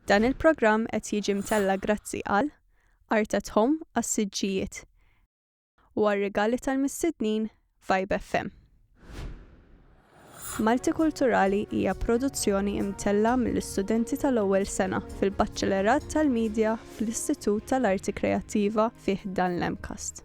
Dan il-programm qed jiġi mtella' grazzi għal Art at Home għas-siġġijiet u għar-rigali tal-mistednin Vibe FM. Maltikulturali hija produzzjoni mtella' mill-istudenti tal-ewwel sena fil-Baċċelerat tal-Media fl-Istitut tal-Arti Kreattiva fi ħdan l-MCAST.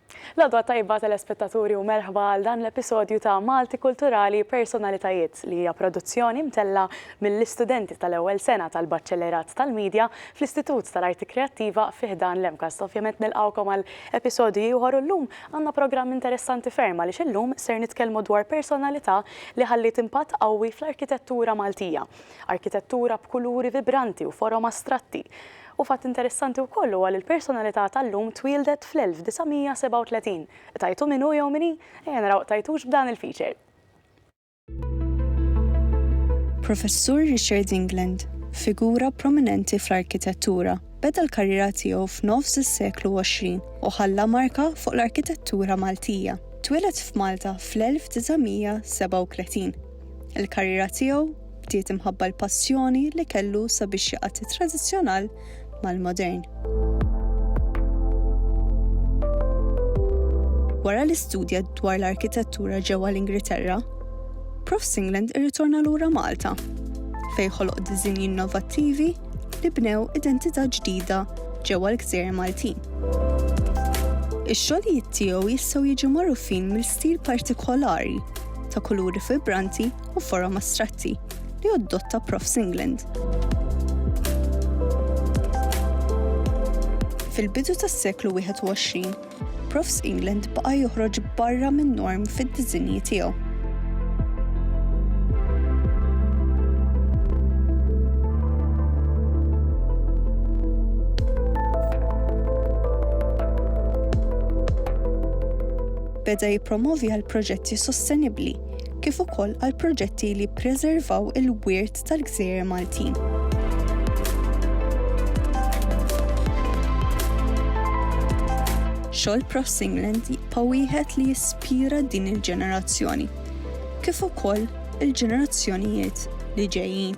L-għodwa tajba telespettaturi u merħba għal dan l-episodju ta' Malti Kulturali Personalitajiet li hija produzzjoni mtellgħa mill-istudenti tal-ewwel sena tal-Baċċellerat tal-Media fl-Istitut tal-Arti Kreattiva fi ħdan l-MCAST. Ovvjament nilqgħukom għal episodju ieħor u llum għandna programm interessanti ferm għaliex illum ser nitkellmu dwar personalità li ħalliet impatt qawwi fl-arkitettura Maltija. Arkitettura b'kuluri vibranti u forom astratti. U fatt interessanti wkoll huwa li l-personalità tal-lum twieldet fl-1937. Qtajtu min hu jew min hi? Ejja naraw qtajtux b'dan il-feature. Professur Richard England, figura prominenti fl-arkitettura, beda l-karriera tiegħu f'nofs is-seklu 20 u ħalla marka fuq l-arkitettura Maltija. Twieled f'Malta fl-1937. Il-karriera tiegħu bdiet imħabba l-passjoni li kellu sabiex jaqgħad it-tradizzjonal mal-modern. Wara li studja dwar l-arkitettura ġewwa l-Ingilterra, Prof Singland irritorna lura Malta fej ħoloq diżinji innovattivi li bnew identità ġdida ġewwa l-gżejjer Maltin. Ix-xogħlijiet tiegħu jistgħu jiġu magħrufin mill-stil partikolari ta' kuluri vibranti u forom astratti li oddotta Prof. Singland. Fil-bidu tas-seklu 21, Prof. England baqa' joħroġ barra minn norm fid-diżinji tiegħu. beda jippromovi għal proġetti sostenibbli kif ukoll għal proġetti li jippreservaw il-wirt tal-gżejjer Maltin. Xogħol Prof Singland jibqa' wieħed li jispira din il-ġenerazzjoni, kif ukoll il-ġenerazzjonijiet li ġejjin.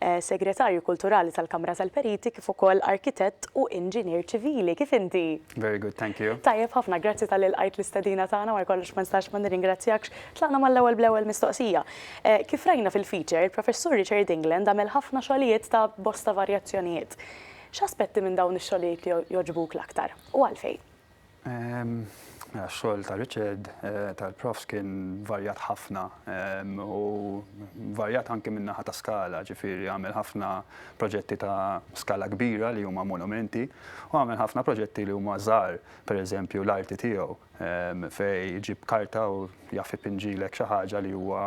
Segretarju Kulturali tal-Kamra tal-Periti kif ukoll Arkitett u Inġinier Ċivili. Kif inti? Very good, thank you. Tajjeb ħafna, grazzi talli lqajt l-istedina tagħna, wara kollox ma nistax ma nirringrazzjakx. Tlaqna mal-ewwel bl-ewwel mistoqsija. Kif rajna fil-feature, il-Professur Richard England għamel ħafna xogħlijiet ta' bosta varjazzjonijiet. X'aspetti minn dawn ix-xogħlijiet jogħġbuk l-aktar, u għalfejn? Mela x-xogħol ta' Richard, tal-profs kien varjat ħafna u varjat anke min-naħa ta' skala, ġifieri għamel ħafna proġetti ta' skala kbira li huma monumenti u għamel ħafna proġetti li huma żgħar, pereżempju l-arti tiegħu fejn iġib karta u jaf ipinġilek xi ħaġa li huwa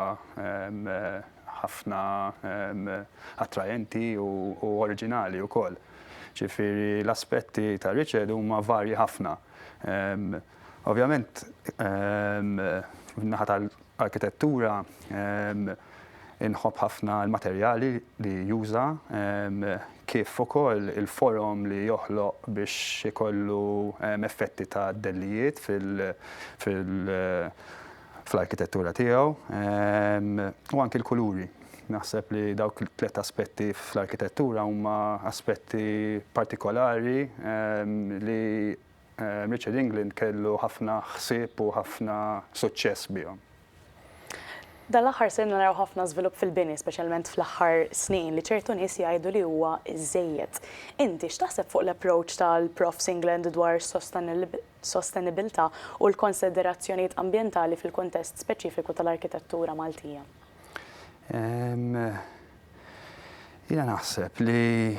ħafna attraenti u oriġinali wkoll. Ġifieri l-aspetti ta' Richard huma varji ħafna. Ovvjament min-naħa tal-arkitettura inħobb ħafna l-materjali li juża kif ukoll il-forom li joħloq biex ikollu effetti ta' dellijiet fil- fl-arkitettura tiegħu u anki l-kuluri. Naħseb li dawk tliet aspetti fl-arkitettura huma aspetti partikolari li Richard England kellu ħafna ħsieb u ħafna suċċess bihom. Dan l-aħħar ser naraw ħafna żvilupp fil-bini, speċjalment fl-aħħar snin, li ċertu nies jgħidu li huwa żżejjed. Inti x'taħseb fuq l-approach tal-Profs England dwar sostenibilità u l-konsiderazzjonijiet ambjentali fil-kuntest speċifiku tal-arkitettura Maltija. Jiena naħseb li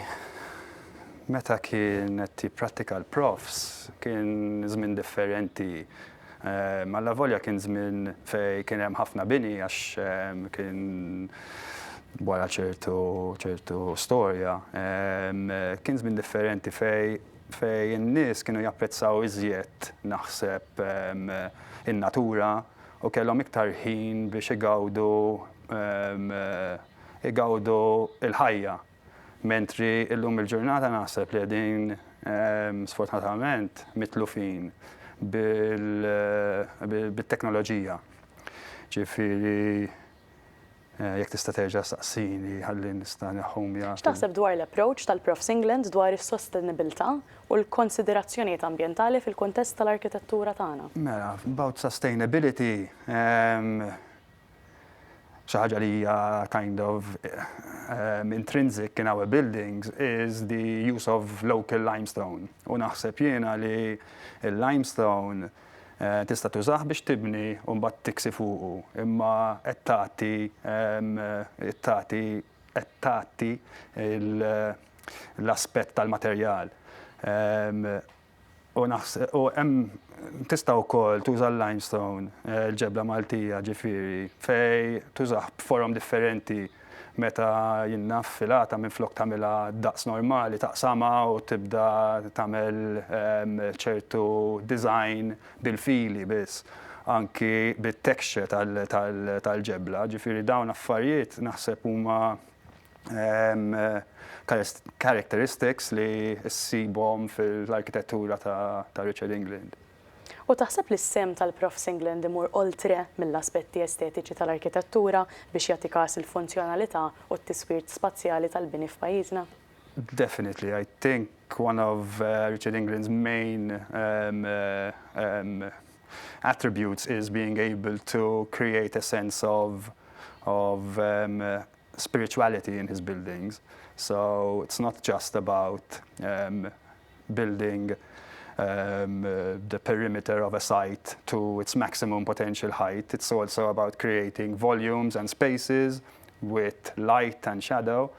meta kien qed jipprattika l-profs kien żmien differenti. Allavolja kien żmien fejn kien hemm ħafna bini għax kien wara ċertu ċertu storja, kien żmien differenti fejn fejn in-nies kienu japprezzaw iżjed, naħseb, in-natura u kellhom iktar ħin biex igawdu igawdu l-ħajja. Mentri llum il-ġurnata naħseb li qegħdin sfortunatament mitlufin bil bit-teknoloġija. Ġifieri Jekk tista' terġa' saqsini ħalli nista' neħħhom jaf. X'taħseb dwar l-approach tal-Prof Singland dwar is-sostenibilità u l-konsiderazzjonijiet ambjentali fil-kuntest tal-arkitettura tagħna? Mela, about sustainability, xi ħaġa li hija kind of intrinsic in our buildings is the use of local limestone. U naħseb jiena li l-limestone Tista' tużah biex tibni u mbagħad tiksi fuqu, imma qed tagħti tagħti qed tagħti l-aspett tal-materjal. U u hemm tista' wkoll tuża l-limestone, il-ġebla Maltija ġifieri, fejn tużah b'forom differenti. Meta jinnaf filata minflok tagħmilha daqs normali taqsamha u tibda tagħmel ċertu design bil-fili biss, anki bit-texture tal-ġebla. Ġifieri dawn affarijiet naħseb huma characteristics li ssibhom fil-arkitettura ta' Richard England. U taħseb li s-sehem tal-Prof Singland imur oltre mill-aspetti estetiċi tal-arkitettura biex jagħti każ il-funzjonalità u t-tiswir spazjali tal-bini f'pajjiżna? Definitely, I think one of Richard England's main attributes is being able to create a sense of of spirituality in his buildings, so it's not just about building the perimeter of a site to its maximum potential height, it's also about creating volumes and spaces with light and shadow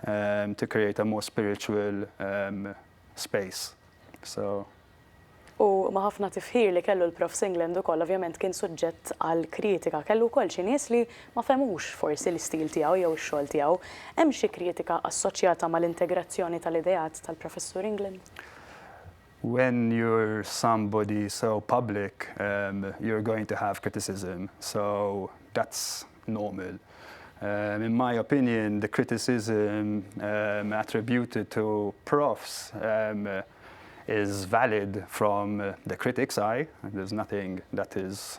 um, to create a more spiritual um, space. So. U ma ħafna tifħir li kellu l-Prof Singland ukoll ovvjament kien suġġett għal kritika. Kellu wkoll xi nies li Ma fehmux forsi l-istil tiegħu jew ix-xogħol tiegħu. Hemm xi kritika assoċjata mal-integrazzjoni tal-ideat tal-Professur England? When you're somebody so public, you're going to have criticism, so that's normal. In my opinion, the criticism attributed to Profs is valid from the critic's eye, there's nothing that is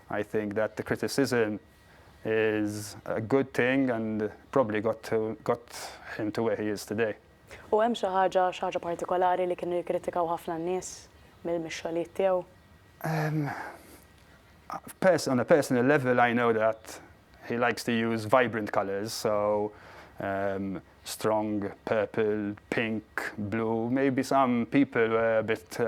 I think that the criticism is a good thing and probably got to got him to where he is today. U hemm xi ħaġa xi ħaġa partikolari li kienu jikkritikaw ħafna n-nies mill-mixxolijiet tiegħu? Um, on a personal level I know that He likes to use vibrant colours, so strong purple, pink, blue, maybe some people were a bit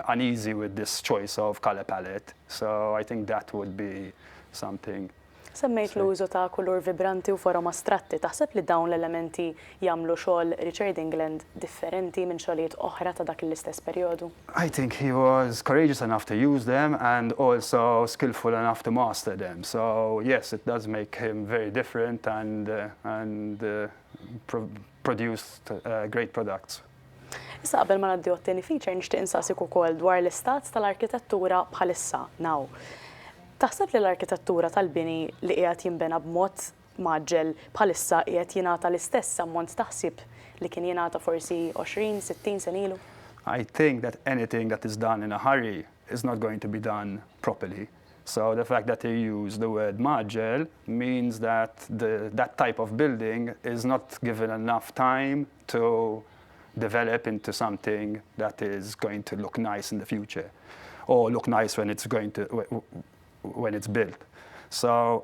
uneasy with this choice of colour palette, so I think that would be something. Semmejt l-użu ta' kulur vibranti u forom astratti, taħseb li dawn l-elementi jagħmlu xogħol Richard England differenti minn xogħlijiet oħra ta' dak l-istess perjodu? I think he was courageous enough to use them and also skillful enough to master them so yes it does make him very different and and produced great products. Issa qabel ma ngħaddi għat-tieni feature nixtieq insaqsik ukoll dwar l-istat tal-arkitettura bħalissa now. Taħseb li l-arkitettura tal-bini li qiegħed jinbena b'mod mgħaġġel bħalissa qiegħed jingħata l-istess ammont ta' ħsieb li kien jingħata forsi 20, 60 sen ilu? I think that anything that is done in a hurry is not going to be done properly. So the fact that he used the word mgħaġġel means that the, that type of building is not given enough time to develop into something that is going to look nice in the future or look nice when it's going to when it's built. So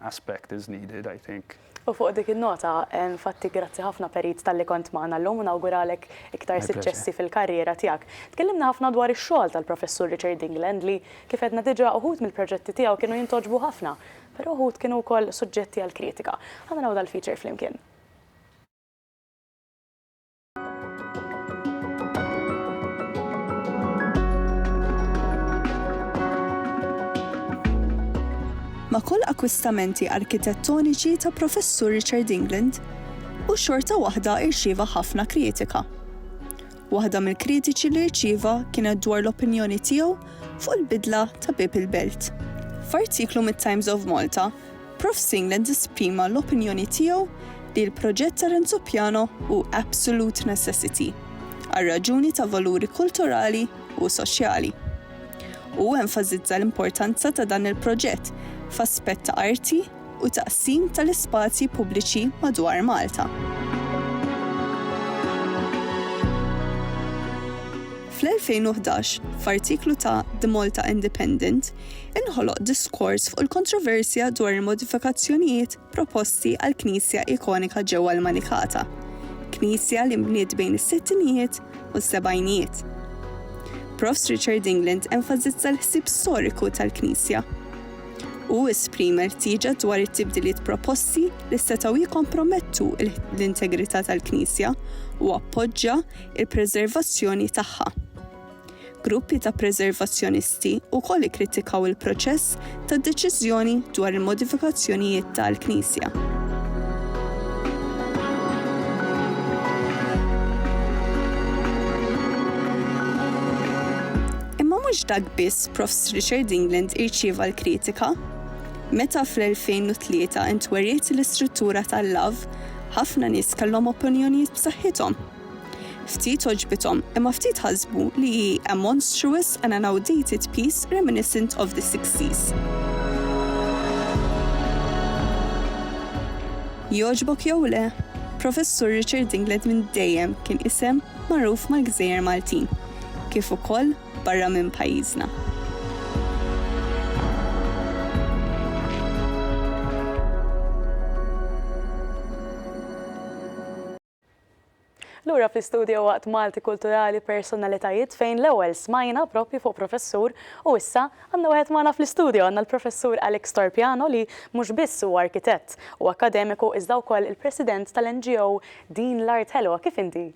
aspect is needed, I think. U fuq dik in-nota, infatti grazzi ħafna Perit talli kont magħna llum u nawguralek iktar siċċessi fil-karriera tiegħek. Tkellimna ħafna dwar ix-xogħol tal-Professur Richard England li, kif għedna diġà, uħud mill-proġetti tiegħu kienu jintogħġbu ħafna, però uħud kienu wkoll suġġetti għall-kritika. Ħa naraw dal-feature flimkien. Ma' kull akkwistamenti arkitettoniċi ta' Professur Richard England, hu xorta waħda irċieva ħafna kritika. Waħda mill-kritiċi li rċieva kienet dwar l-opinjoni tiegħu fuq il-bidla ta' Bieb il-Belt. F'artiklu mit-Times of Malta, Prof Singland esprima l-opinjoni tiegħu li l-proġett ta' Renzo Piano hu absolute necessity għal raġuni ta' valuri kulturali u soċjali. Hu enfasizza l-importanza ta' dan il-proġett f'aspett ta' arti u taqsim tal-ispazji pubbliċi madwar Malta. Fl-2011, f'artiklu ta' The Malta Independent, inħoloq diskors fuq il-kontroversja dwar il-modifikazzjonijiet proposti għall-knisja ikonika ġewwa l-Manikata, knisja li nbniet bejn is-sittinijiet u s-sebgħinijiet. Profs Richard England enfasizza l-ħsieb storiku tal-knisja. Hu esprima rtieġa dwar it-tibdiliet proposti li setgħu jikkompromettu l-integrità tal-knisja u appoġġa il-preservazzjoni tagħha. Gruppi ta' preservazzjonisti wkoll ikkritikaw il-proċess tad-deċiżjoni dwar il-modifikazzjonijiet ta' l-knisja. mhux dak biss Profs Richard England irċieva l-kritika. Meta fl-2003 intweriet l-istruttura tal-lav, ħafna nies kellhom opinjonijiet b'saħħithom. Ftit għoġbithom, imma ftit ħasbu li hi a monstrous and an outdated piece reminiscent of the sixties. Jogħġbok jew le, Professur Richard Dinglet minn dejjem kien isem magħruf mal-gżejjer Maltin, kif ukoll barra minn pajjiżna. Lura fl-istudio waqt Malti Kulturali Personalitajiet fejn l-ewwel smajna proprju fuq professur u issa għandna wieħed magħna fl-istudio, għandna l-Professur Alex Torpiano li mhux biss huwa arkitett u akkademiku iżda wkoll il-President tal-NGO Din l-Art Ħelwa. Kif inti?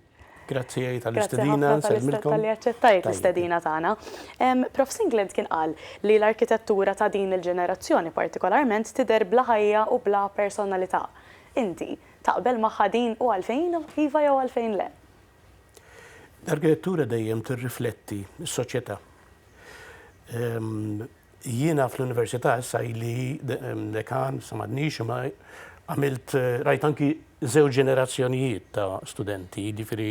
Grazzi tal-istedina, nsellmilkom. Tal-li aċċettajt l-istedina tagħna. Prof. Singland kien qal li l-arkitettura ta' din il-ġenerazzjoni partikolarment tidher bla ħajja u bla personalità. Inti, Taqbel magħha din u għalfejn iva jew għalfejn le? L-arkitettura dejjem tirrifletti s-soċjetà. Jiena fl-università issa ili dekan, issa m'għadniex, imma għamilt rajt anki żewġ ġenerazzjonijiet ta' studenti, jiġifieri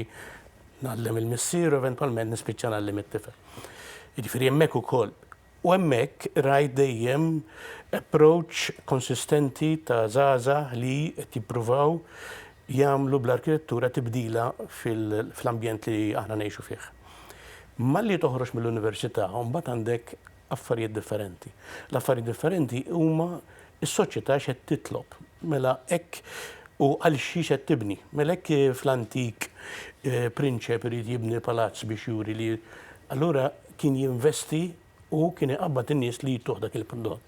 ngħallem il-missier u eventwalment nispiċċa ngħallem it-tifel. Jiġifieri hemmhekk ukoll U hemmhekk rajt dejjem approach konsistenti ta' żgħażagħ li qed jippruvaw jagħmlu bl-arkitettura tibdila fl-ambjent li aħna ngħixu fih. Malli toħroġ mill-università mbagħad għandek affarijiet differenti. L-affarijiet differenti huma Is-soċjetà x'qed titlob? Mela hekk u għal xiex qed tibni? Mela hekk fl-antik prinċep irid jibni palazz biex juri li allura kien jinvesti u kien iqabbad in-nies li jtuh dak il-prodott.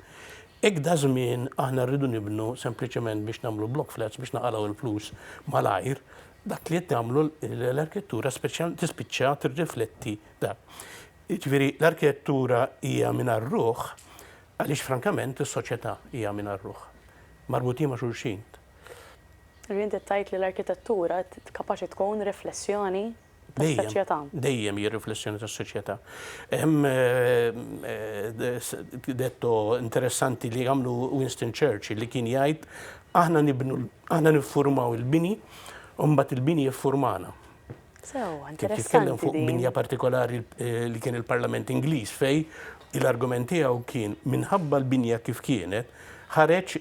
Hekk daż-żmien aħna rridu nibnu sempliċement biex nagħmlu block flats biex naqalgħu l-flus malajr, dak li qed tagħmlu l-arkitettura speċjalment tispiċċa tirrifletti dan. Jiġifieri l-arkitettura hija mingħajr ruħ Għaliex frankament is-soċjetà hija mingħajr ruħ. Marbutin ma' xulxin. Ġifieri inti tgħid li l-arkitettura kapaċi tkun riflessjoni tas-soċjetà. Dejjem, dejjem hija riflessjoni tas-soċjetà. Hemm detto interessanti li għamlu Winston Churchill li kien jgħid, aħna nibnu, aħna niffurmaw il-bini u mbagħad il-bini jiffurmana. Kif jitkellem fuq binja partikolari eh, li kien il-Parlament Ingliż fej l-argument tiegħu kien minħabba l-binja kif kienet ħareġ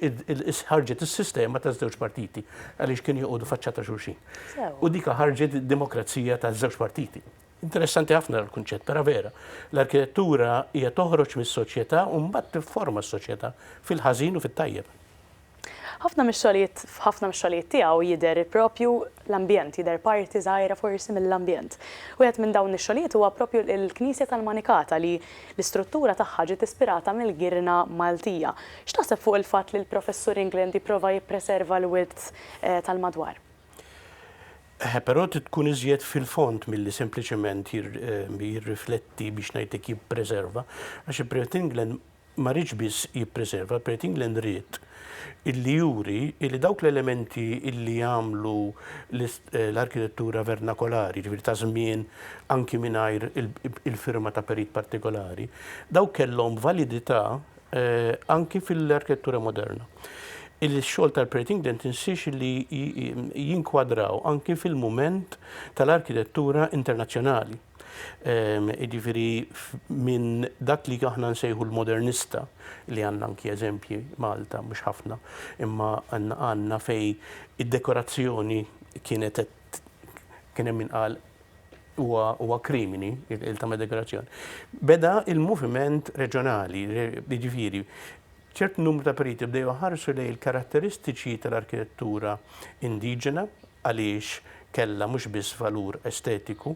ħarġet is-sistema ta' żewġ partiti għaliex kien joqogħdu faċċa ta' xulxin. U dika ħarġet demokrazija ta' żewġ partiti. Interessanti ħafna l-kunċett, però vera. L-arkitettura hija toħroġ mis-soċjetà u mbagħad tifforma s-soċjetà fil-ħażin u fit-tajjeb. Ħafna mix-xogħlijiet, f'ħafna mix-xogħlijiet tiegħu jidher proprju l-ambjent, jidher parti żgħira forsi mill-ambjent. Wieħed minn dawn ix-xogħlijiet huwa proprju l-Knisja tal-Manikata li l-istruttura tagħha ġiet ispirata mill-girna Maltija. X'taħseb fuq il-fatt li l-Professur England jipprova jippreserva l-wirt tal-madwar? Eħe, però trid tkun iżjed fil-fond milli sempliċement jirrifletti, biex ngħidlek jippreserva, għax il-Prefett England ma riedx biss jippreserva, il-Credit England ried illi juri illi dawk l-elementi illi jagħmlu l-arkitettura vernakolari, jiġifieri ta' żmien anki mingħajr il-firma ta' perit partikolari, dawk kellhom validità anki fil-arkitettura moderna. Il-xogħol tal-Credit England insiex illi jinkwadraw anki fil-mument tal-arkitettura internazzjonali. Jiġifieri minn dak li aħna nsejħu l-modernista li għandna anki eżempji Malta mhux ħafna, imma għandna fej id-dekorazzjoni kienet kien hemm min qal huwa krimini il-tama dekorazzjoni. Beda il-moviment reġjonali, jiġifieri ċert numru ta' periti bdew ħarsu lejn il-karatteristiċi tal-arkitettura indiġena għaliex kellha mhux biss valur estetiku,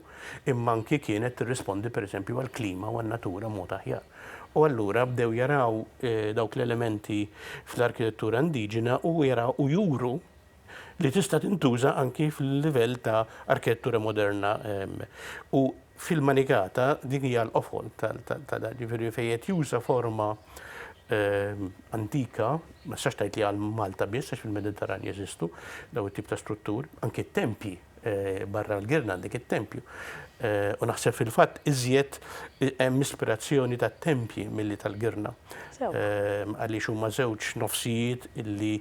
imma anki kienet tirrispondi pereżempju għall-klima u għan-natura b'mod aħjar. U allura bdew jaraw dawk l-elementi fl-arkitettura indiġena u jaraw u juru li tista' tintuża anki fil-livell ta' arkitettura moderna u Fil-Manikata din hija l-qofol ta' dan, jiġifieri fejn qed juża forma antika, ma tistax tgħid li għal Malta biss għax fil-Mediterran jeżistu dawn it-tip ta' strutturi, anki t-tempji barra l-girna għandek it-tempju. U naħseb fil-fatt iżjed hemm ispirazzjoni tat-tempji milli tal-girna. Għaliex huma żewġ nofsijiet illi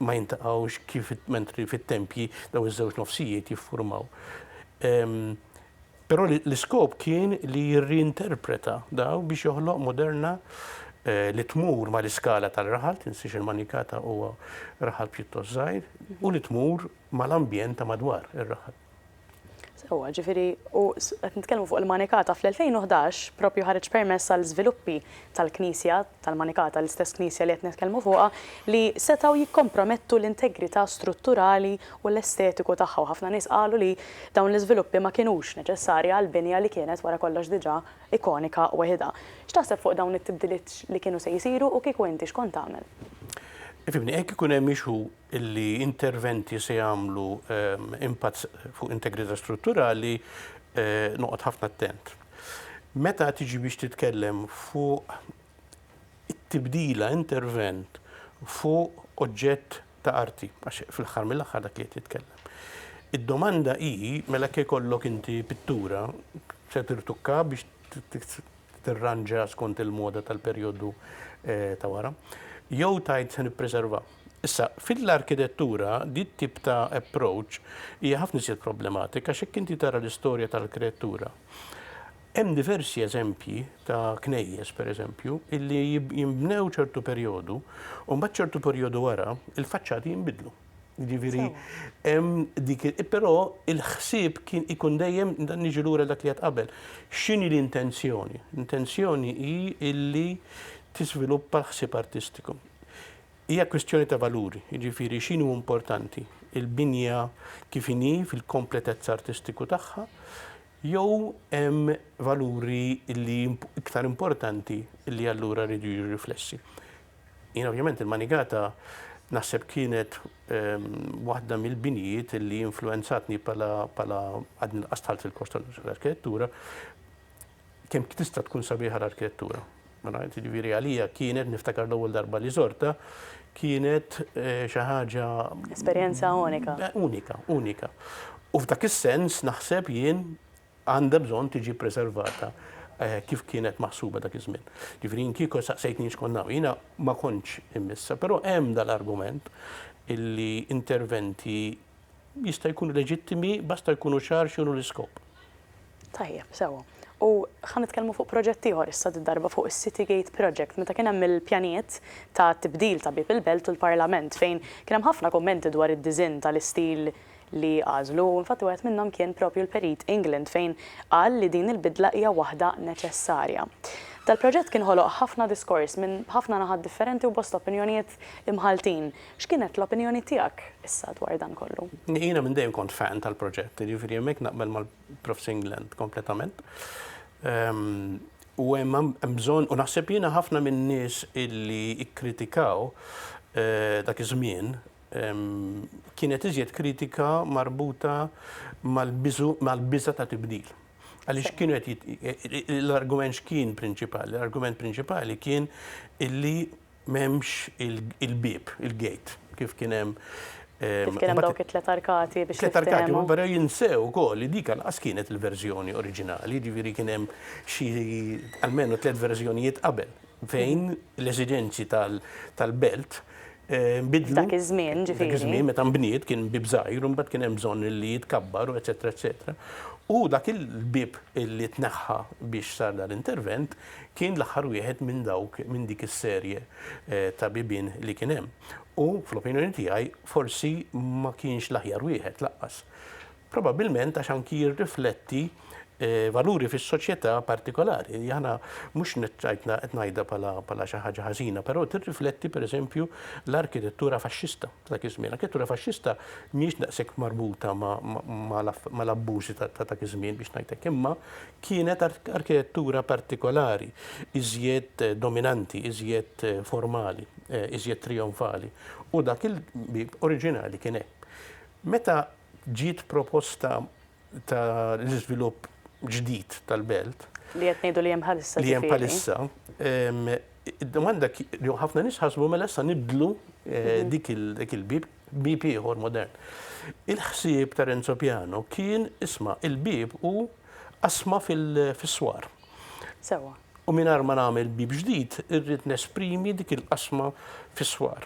ma jintaqgħux kif mentri fit-tempji dawn iż-żewġ nofsijiet jiffurmaw. Però l-iskop kien li jirriinterpreta dawn biex joħloq Moderna li tmur mal-iskala tal-raħal, tinsiex il-Manikata huwa raħal pjuttost żgħir, u li tmur mal-ambjent ta' madwar ir-raħal. Sewwa, ġifieri u qed nitkellmu fuq il-Manikata, fl-2011 proprju ħareġ permess għal żviluppi tal-knisja tal-Manikata, l-istess Knisja li qed nitkellmu fuqha, li setgħu jikkompromettu l-integrità strutturali u l-estetiku tagħha u ħafna nies qalu li dawn l-iżviluppi ma kinux neċessarji għal binja li kienet wara kollox diġà ikonika weħidha. X'taħseb fuq dawn it-tibdiliet li kienu se jsiru u kieku inti x'kont tagħmel? Ifhimni, hekk ikun hemm issue li interventi se jagħmlu impatt fuq integrità strutturali, noqgħod ħafna attent. Meta tiġi biex titkellem fuq it-tibdila, intervent fuq oġġett ta' arti, għax fl-aħħar mill-aħħar dak li qed jitkellem. Id-domanda hi mela jekk ikollok inti pittura se tirtukka biex tirranġa skont il-moda tal-perjodu ta' wara, jew tgħid se nippreserva. Issa, fil-arkidettura, di t-tip ta' approach hija ħafna iżjed problematika għax jekk inti tara l-istorja tal-kreattura, hemm diversi eżempji ta' knejjes, per eżempju, illi jinbnew ċertu perjodu u mbagħad ċertu perjodu wara il-faċċati jinbidlu. Jiġifieri, hemm dik però il-ħsieb kien ikun dejjem dan niġi lura dak li qed qabel. X'inhi l-intenzjoni? L-intenzjoni hi illi tiżviluppa l-ħsieb artistiku. Hija kwistjoni ta' valuri, jiġifieri x'inhu importanti, il-binja kif inhi fil-kompletezza artistiku tagħha jew hemm valuri li iktar importanti li allura rridu jiġu riflessi. Jien ovvjament il-Manigata naħseb kienet ehm, waħda mill-binjiet li influenzatni pala għadni l-qastħalt fil-kors tal-arkitettura kemm tista' tkun sabiħa l-arkitettura. Mela, jiġifieri għalija kienet niftakar l-ewwel darba li żorta, kienet eh, xi ħaġa Esperjenza unika. Eh, unika, unika. U f'dak is-sens naħseb jien għandha bżonn tiġi preservata eh, kif kienet maħsuba dak iż-żmien. Ġifieri jien kieku saqsejtni x'konna jiena ma kontx immissa, però hemm dal-argument illi interventi jista' jkunu leġittimi basta jkunu ċar x'inhu l-iskop. Tajjeb, sewwa. U ħa nitkellmu fuq proġett ieħor issa did-darba fuq is-City Gate Project meta kien hemm il-pjanijiet ta' tibdil ta' Bieb il-Belt u l-Parlament fejn kien hemm ħafna kummenti dwar id-diżinn tal-istil li għażlu u infatti wieħed minnhom kien propju l-Perit England fejn qal li din il-bidla hija waħda neċessarja. Dal-proġett kien ħoloq ħafna diskors minn ħafna naħat differenti u bosta opinjonijiet imħalltin X'kienet l-opinjoni tiegħek issa dwar dan kollu? Jiena minn dejjem kont fan tal-proġett, jiġifieri hemmhekk naqbel mal-Prof. Singland kompletament. U hemm bżonn, u naħseb jiena ħafna min-nies illi kkritikaw dak iż-żmien, kienet iżjed kritika marbuta mal-biżu, mal-biża' ta' tibdil. Għaliex kienu qed, l-argument x'kien prinċipali? L-argument prinċipali kien illi M'hemmx il-bieb, il-gate, kif kien hemm. Kif kien hemm dawk it-tliet arkati biex tiftehemhom. Tliet arkati, però jinsew ukoll li dik lanqas kienet il-verżjoni oriġinali, jiġifieri kien hemm xi almenu tliet verżjonijiet qabel fejn l-eżiġenzi tal-belt nbidlu. Dak iż-żmien, ġifieri. Dak iż-żmien meta nbniet kien bieb żgħir u mbagħad kien hemm bżonn li jitkabbar u eċċetera eċċetera. U dak il-bieb li tneħħa biex sar dan l-intervent Kien l-aħħar wieħed minn dawk minn dik is-serje ta' bibien li kien hemm u, fl-opinjoni tiegħi, forsi ma kienx l-aħjar wieħed lanqas. Probabbilment għax anki jirrifletti valuri fis-soċjetà partikolari. Aħna mhux qed ngħidha bħala xi ħaġa ħażina, però tirrifletti, pereżempju, l-arkitettura faxxista. Dak iż-żmien. Arkitettura faxxista mhijiex daqshekk marbuta mal-abbużi ta' dak iż-żmien biex ngħid hekk, imma kienet arkitettura partikolari, iżjed dominanti, iżjed formali, iżjed trijonfali. U dak il-bieb oriġinali kien hekk. Meta Ġiet proposta ta' l-iżvilupp ġdid tal-belt. Li qed ngħidu li hemm bħalissa ġifieri. Li hemm bħalissa. Id-domanda li ħafna nies ħasbu mela issa nibdlu eh, mhm. dik il-bib, bib ieħor modern. Il-ħsieb ta' Renzo Piano kien isma' il-bib u asma fis-swar. Sewwa. U mingħajr ma nagħmel bieb ġdid, irrid nesprimi dik il-qasma fis-swar.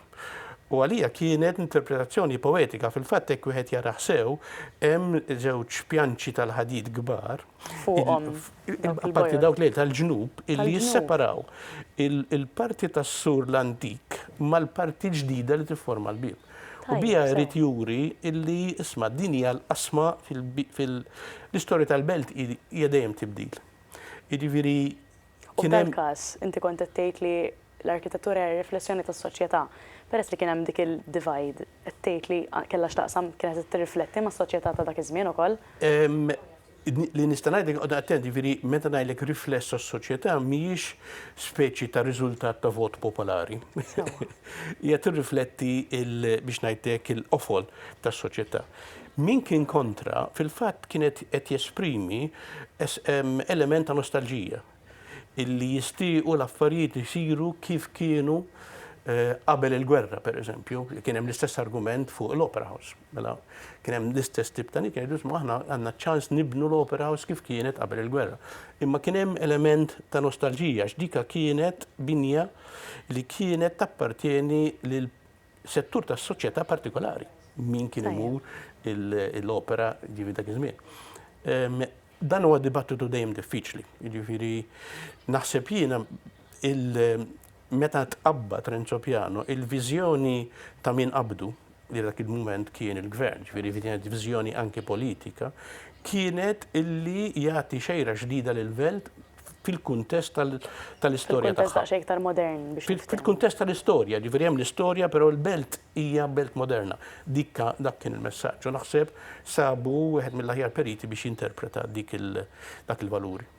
U għalija kienet interpretazzjoni poetika. Fil-fatt hekk wieħed jarah sew, hemm żewġ pjanċi tal-ħadid kbar. Fuqhom. Apparti dawk li tal-ġnub, illi jisseparaw il-parti tas-sur l-antik mal-parti ġdida li tifforma l-bieb. U bija jrid juri illi isma' din hija l-qasma fil-istorja tal-belt hija dejjem tibdil. Jiġifieri kien hemm. F'dan każ, inti kont qed tgħid li l-arkitettura hija riflessjoni tas-soċjetà. Peress li kien hemm dik il-divide, qed tgħid li kellha x'taqsam, kienet qed tirrifletti mas-soċjetà ta' dak iż-żmien ukoll? Li nista' ngħidlek, iqgħod attent, jiġifieri meta ngħidlek rifless tas-soċjetà mhijiex speċi ta' riżultat ta' vot popolari. Hija tirrifletti il, biex ngħid hekk, il-qofol tas-soċjetà. Min kien kontra, fil-fatt kien qed jesprimi element ta' nostalġija. illi jistiequ l-affarijiet isiru kif kienu eh, qabel il-gwerra, per eżempju, kien hemm l-istess argument fuq l-Opera House. Mela, kien hemm l-istess tip ta' nikajdu, ma aħna għandna ċans nibnu l-Opera House kif kienet qabel il-gwerra. Imma kien hemm element ta' nostalġija, x'dika kienet binja li kienet tappartjeni lil settur tas soċjetà partikolari. Min kien imur l-opera ġivi dak iż-żmien. Dan huwa dibattitu dejjem diffiċli. Jiġifieri naħseb jiena meta tqabbad Renzo Piano il-viżjoni ta' min qabdu li dak il-mument kien il-gvern, ġifieri kienet viżjoni anki politika, kienet illi jagħti xejra ġdida lil Velt fil-kuntest tal-istorja tagħha. Fil-kuntest aktar modern biex. Fil-kuntest tal-istorja, ġifieri hemm l-istorja però l-Belt Hija belt moderna. Dik ka, dak kien il-messaġġ. U naħseb sabu wieħed mill-aħjar periti biex jinterpreta dik il, dak il-valuri.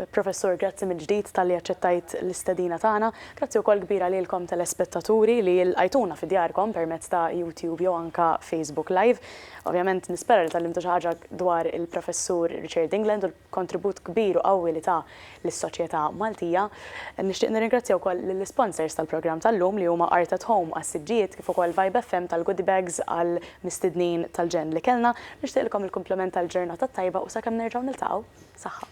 Professur, grazzi mill-ġdid talli aċċettajt l-istedina tagħna. Grazzi wkoll kbira lilkom telespettaturi li lqajtuna fi djarkom permezz ta' YouTube jew anke Facebook Live. Ovvjament nispera li tgħallimtu xi ħaġa dwar il-Professur Richard England u l, kontribut kbir u qawwi li ta lis-soċjetà Maltija. Nixtieq nirringrazzja wkoll lill-isponsors tal-programm tal-lum li huma Art at Home għas-siġġijiet kif ukoll Vibe FM tal-goodie bags għall-mistednin tal-ġenn li kellna. Nixtieqlkom il-kumplament tal-ġurnata t-tajba u sakemm nerġgħu niltaqgħu, saħħa.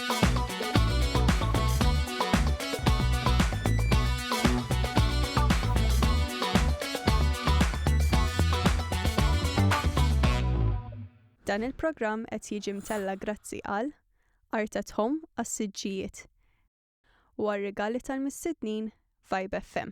Dan il-programm qed jiġi mtella' grazzi għal Art at Home għas-siġġijiet u għar-rigali tal-mistednin Vibe FM.